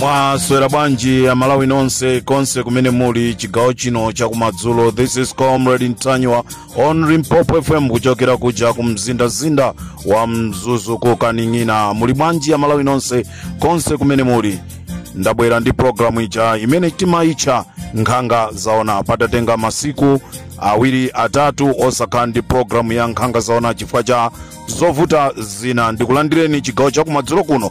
mwaswera bwanji amalawi nonse konse kumene muli chigawo chino chakumadzulo this is comrade ntanyiwa on limpopo fm kuchokera kuja ku mzindazinda wa mzuzu ku kaning'ina muli bwanji amalawi nonse konse kumene muli ndabwera ndi programu ija imene timayitcha nkhanga zaona patatenga masiku awiri atatu osakhala ndi programu ya nkhanga zaona chifukwa cha zovuta zina ndikulandireni chigawo chakumadzulo kuno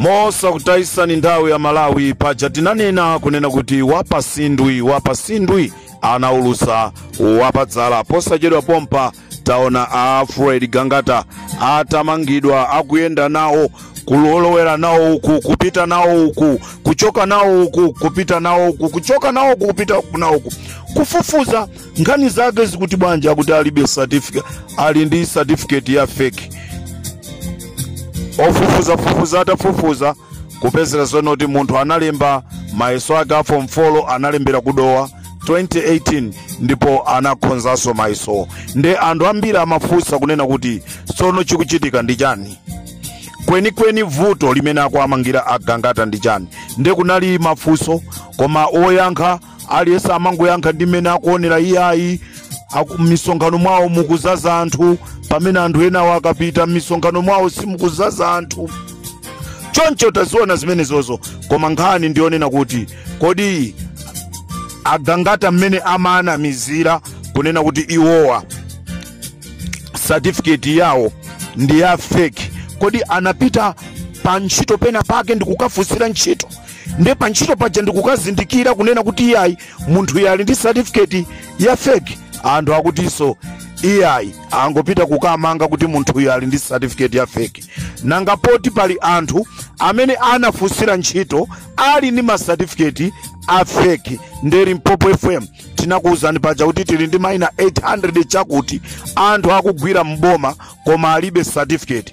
mosakutayitsani nthawi amalawi paja tinanena kunena kuti wapasindwi wapasindwi anaulusa wapadzala posachedwa pompa taona a fred gangata atamangidwa akuyenda nawo kulolowera nawo uku kupita nawo uku kuchoka nawo uku kupita nawo uku kuchoka nawo uku kupita nawo uku kufufuza nkhani zake zikuti bwanji akuti alibe certificate ali ndi certificate ya fake ofufuza fufuza atafufuza kupezeka zoonati munthu analemba mayeso ake a form 4 analembera kudowa 2018 ndipo anakhonzanso mayesowo nde anthu ambiri amafunsa kunena kuti tsono chikuchitika ndi chani kwenikweni vuto limene akuamangira agangata ndi chani nde kunali mafunso koma oyankha aliyense amangoyankha ndi mmene akuonera iyayi aku- m'misonkhano mwawo mukuzaza anthu pamene anthu enawo akapita m'misonkhano mwawo simukuzaza anthu choncho taziona zimenezozo koma nkhani ndiyonena kuti kodi agangata mmene amawanamizira kunena kuti iwowa certificate yawo ndi ya fake kodi anapita pa ntchito pena pake ndikukafunsira ntchito nde pa ntchito paja ndikukazindikira kunena kuti iyayi munthu uyu ali ndi certificate ya fake anthu akutinso iyayi angopita kukamanga kuti munthu uyu ali ndi certificate ya fake nanga poti pali anthu amene anafunsira ntchito ali ndi ma certificate a fake nde limpopo fm tinakuwuzani paja kuti tili ndi maina 800 chakuti anthu akugwira mboma koma alibe certificate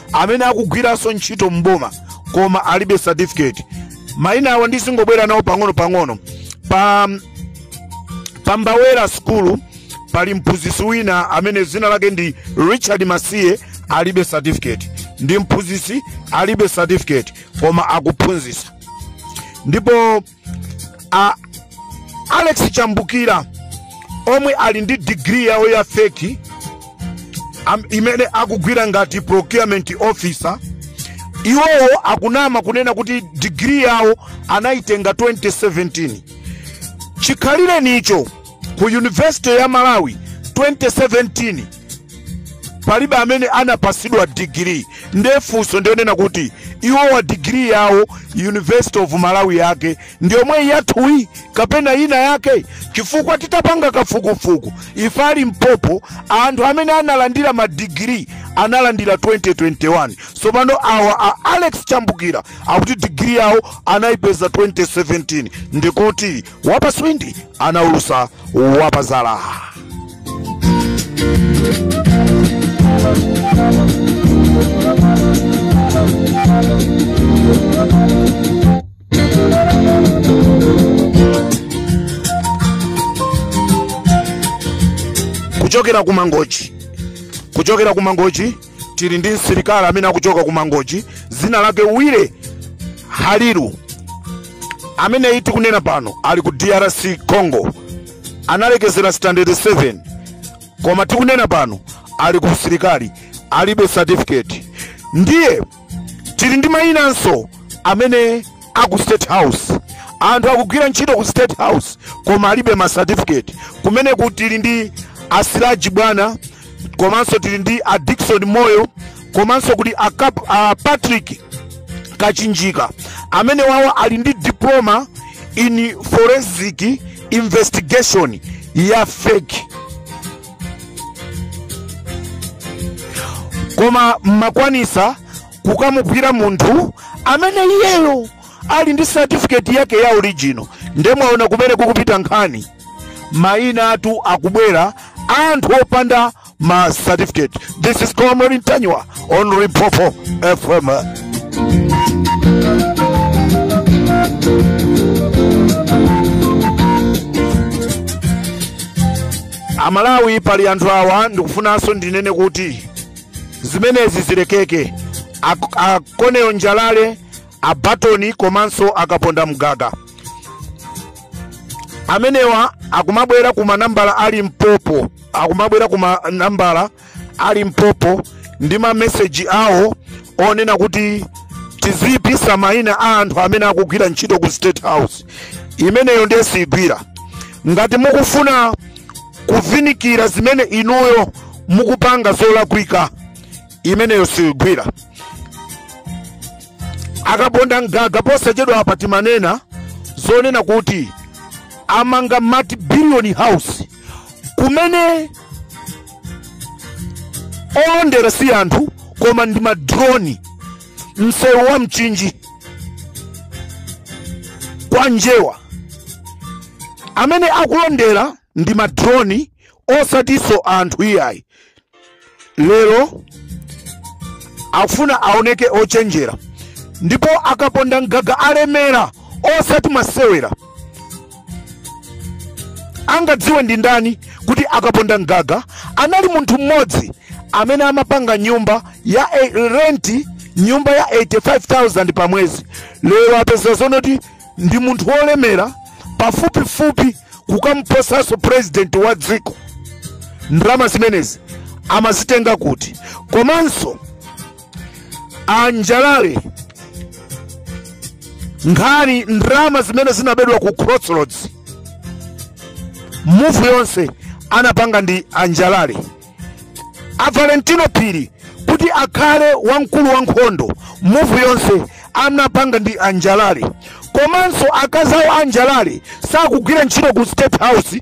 amene akugwiranso ntchito m'boma koma alibe certificate maina awa ndizingobwera nawo pang'ono pang'ono pa mbawera skulu pali mphunzitsi wina amene dzina lake ndi richard masiye alibe certificate ndi mphunzitsi alibe certificate koma akuphunzitsa ndipo a alex chambukira omwe ali ndi digiri yawo ya feki imene akugwira ngati procurement officer iwowo akunama kunena kuti digiri yawo anayitenga 2017 chikhalirenicho ku yunivesite ya malawi 2017 palibe amene anapatsidwa digiri nde funso ndi yonena kuti iwowa digiri yawo university of malawi yake ndi yomweyi yathuyi kapena ina yake chifukwa titapanga kafukufuku ife a Limpopo anthu amene analandira madigiri analandira 2021 tsopano awa a alex chambukira akuti digiri yawo anayipeza 2017 ndikuti wapatswindi anaulusa wapazala kuchokera ku mangochi kuchokera ku mangochi tili ndi msilikali amene akuchoka ku mangochi dzina lake wile haliru ameneyi tikunena pano ali ku drc congo analekezera standard 7 koma tikunena pano ali ku usilikali alibe certificate ndiye tili ndi mayinanso amene a ku state house anthu akugwira ntchito ku state house koma alibe ma certificate kumeneku tili ndi a Siraji bwana komanso tili ndi a dickson moyo komanso kuti a patrick kachinjika amenewawo ali ndi diploma in forensic investigation ya fake koma mmakwanisa kukamugwira munthu amene iyeyo ali ndi certificate yake ya original nde mwaona kumene kukupita nkhani mainatu akubwera anthu opanda ma certificate this is comrade ntanyiwa on Limpopo fm amalawi pali anthu awa ndikufunanso ndinene kuti zimenezi zilekeke a koneyo njalale a batoni komanso a kaponda mgaga amenewa akumabwera ku manambala a Limpopo akumabwera ku manambala a Limpopo ndi mameseji awo onena kuti tiziyipisa mayina a anthu amene akugwira ntchito ku state house imeneyo ndiye siyigwira ngati mukufuna kuvinikira zimene inuyo mukupanga zolakwika imeneyo siyigwira a kaponda mgaga posachedwapa timanena zonena kuti amanga multi billion house kumene olondera si anthu koma ndi madroni msewu wa mchinji kwa njewa amene akulondera ndi madroni osatinso anthu iyayi lero afuna aoneke ochenjera ndipo a kapondamgaga alemera osati masewera angadziwe ndi ndani kuti a kapondamgaga anali munthu mmodzi amene amapanga nyumba ya e- renti nyumba ya 85000 pa mwezi lero apeza zonoti ndi munthu wolemera pafupifupi kukamposanso purezidenti wa dziko ndalama zimenezi amazitenga kuti komanso anjalale nkhani ndalama zimene zinabedwa ku crossroads muvu yonse anapanga ndi anjalale a valentino phiri kuti akhale wamkulu wa nkhondo muvu yonse anapanga ndi anjalale komanso akazi awo anjalale sakugwira ntchito ku state house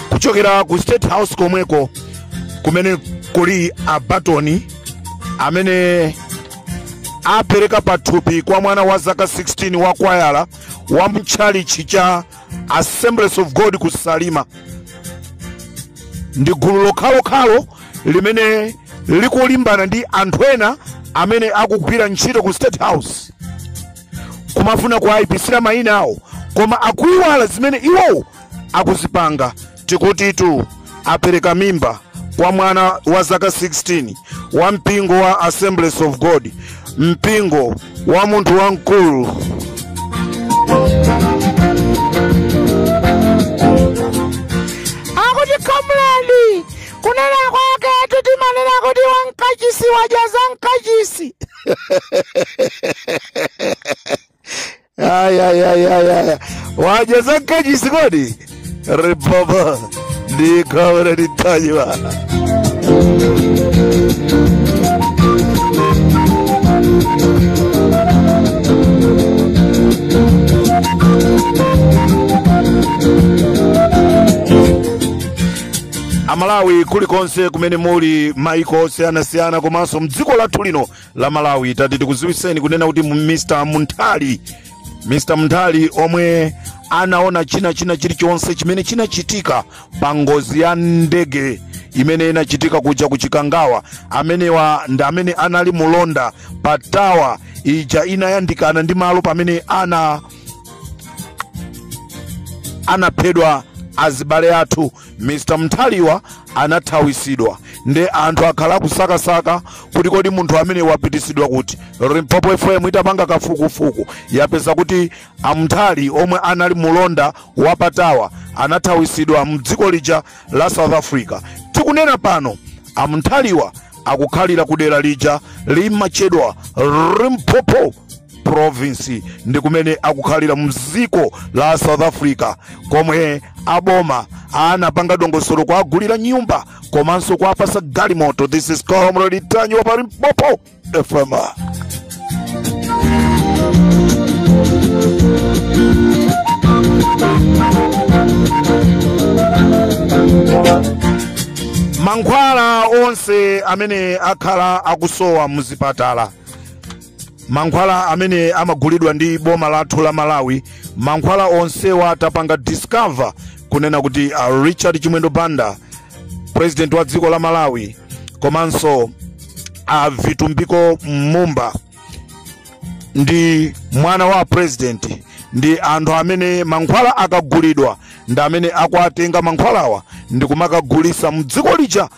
kuchokera ku state house komweko kumene kuli abatoni amene apereka pathupi kwa mwana wa zaka 16 wa kwayala wa mtchalichi cha assemblies of god ku salima ndi gulu lokhalokhalo limene likulimbana ndi anthu ena amene akugwira ntchito ku state house kumafuna kuwayipisira mayina awo koma akuyiwala zimene iwowo akuzipanga tikutitu apereka mimba kwa mwana wa zaka 16 wa mpingo wa assemblies of god mpingo wa munthu wamkulu akuti kamlandi kunena kwaketu timanena kuti wamkachisi wadya zamkachisi Ay, ay, ay, ay, ay. Wadya zamkachisi kodi. Ripoba. Ndika ule nitajiwa. amalawi kulikonse kumene muli maiko osiyanasiyana komanso mdziko lathu lino la malawi tati tikuziwiseni kunena kuti mu- mr munthali mr munthali omwe anaona china china chilichonse chimene chinachitika pa ngozi ya ndege imene inachitika kuja ku chikangawa amenewa ndi amene anali mulonda pa tawa ija inayandikana ndi malo pamene ana anaphedwa azibale athu mr mnthali anathawisidwa nde anthu akhala akusakasaka kuti kodi munthu amene wapitisidwa kuti limpopo fm itapanga kafukufuku yapeza kuti a mnthali omwe anali mulonda wa pa tower anathawisidwa mdziko lija la south africa tikunena pano a mnthaliwa akukhalira kudera lija limatchedwa limpopo province ndi kumene akukhalira mdziko la south africa komwe aboma anapanga dongosolo kuwagulira nyumba komanso kuwapasa galimoto this is comrade ntanyiwa pa limpopo fm mankhwala onse amene akhala akusowa muzipatala mankhwala amene amagulidwa ndi boma lathu la malawi mankhwala onsewa tapanga discover kunena kuti a richard chimwendo banda president wa dziko la malawi komanso a vitumbiko mumba ndi mwana wa president ndi anthu amene mankhwala akagulidwa ndi amene akuwatenga mankhwalawa ndi kumakagulisa mdziko lija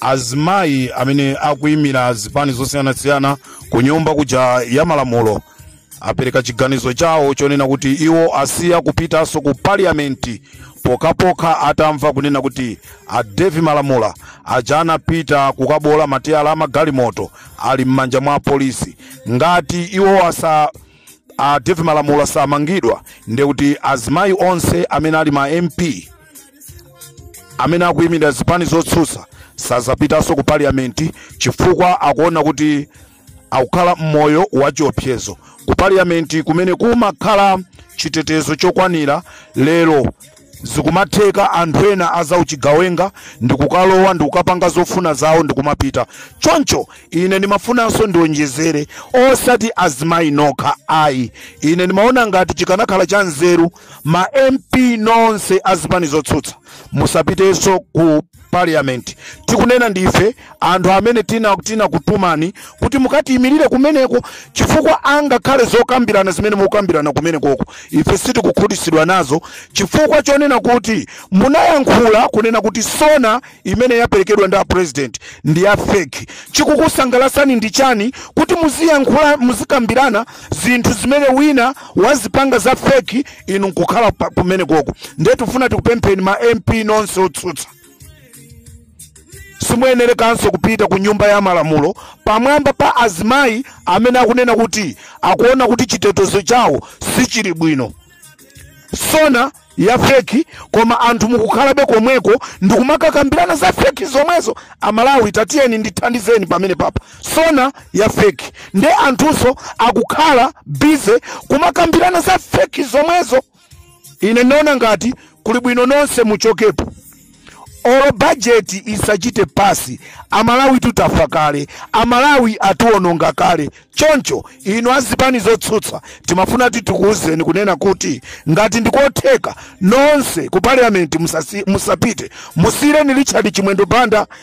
azimayi amene akuimira zipani zosiyanasiyana ku nyumba kuja ya malamulo apereka chiganizo chawo chonena kuti iwo asiya kupitanso ku parliamenti pokhapokha atamva kunena kuti a dave malamula aja anapita kukabola matayala a magalimoto ali m'manja mwa apolisi ngati iwo asa a Dave Malamula samangidwa ndiye kuti azimayi onse amene ali ma MP amene akuimira zipani zotsutsa sazapitanso ku parliament chifukwa akuona kuti akukhala mmoyo wa chiopsezo ku parliament kumene kumakhala chitetezo chokwanira lero zikumatheka anthu ena azauchigawenga ndikukalowa ndikukapanga zofuna zawo ndikumapita choncho ine ndimafunanso ndionjezere osati azimayi nokha ayi ine ndimaona ngati chikanakhala cha nzeru ma mp nonse azipani zotsutsa musapitenso ku parliament tikunena ndife anthu amene tina tinakutumani kuti mukatiyimirire kumeneko chifukwa angakhale zokambirana zimene mukambirana kumenekoko ife sitikukhutitsidwa nazo chifukwa chonena kuti munayankhula kunena kuti sona imene yaperekedwa ndi a president ndi ya fake chikukusangalasani ndi chani kuti muziyankhula muzikambirana zinthu zimene wina wazipanga za fake inu nkukhala kumenekoko ndiye tifuna tikupempheni ma mp nonse otsutsa simuyenerekanso kupita ku nyumba ya malamulo pamwamba pa azimayi amene akunena kuti akuona kuti chitetezo chawo sichili bwino SONA ya feki koma anthu mukukhalabe komweko ndikumakakambirana za feki zomwezo amalawi tatiyeni ndithandizeni pamene papa SONA ya feki ndi anthunso akukhala bize kumakambirana za feki zomwezo ine ndaona ngati kuli bwino nonse muchokepo olo bajeti isachite pasi amalawi tutafa kale amalawi atiwononga kale choncho inu azipani zotsutsa timafuna kuti tikuwuzeni kunena kuti ngati ndikotheka nonse ku parliament musapite musiyireni richard chimwendo banda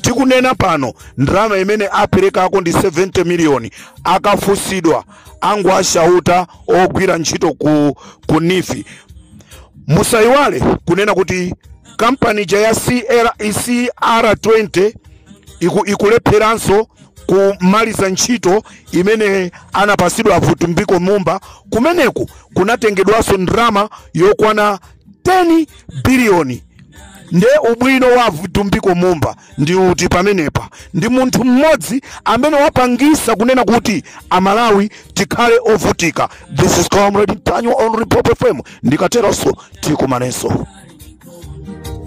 tikunena pano ndalama imene aperekako ndi 70 miliyoni akafunsidwa akushauta ogwira ntchito ku NEEF musayiwale kunena kuti kampani ija ya cr20 ikulepheranso kumaliza ntchito imene anapasidwa a vitumbiko mumba kumeneku kunatengedwanso ndalama yokwana 10 biliyoni nde ubwino wa vitumbiko mumba ndi uti pamenepa ndi munthu mmodzi amene wapangisa kunena kuti amalawi tikhale ovutika this is comrade ntanyiwa on limpopo fm ndikateronso tikumanenso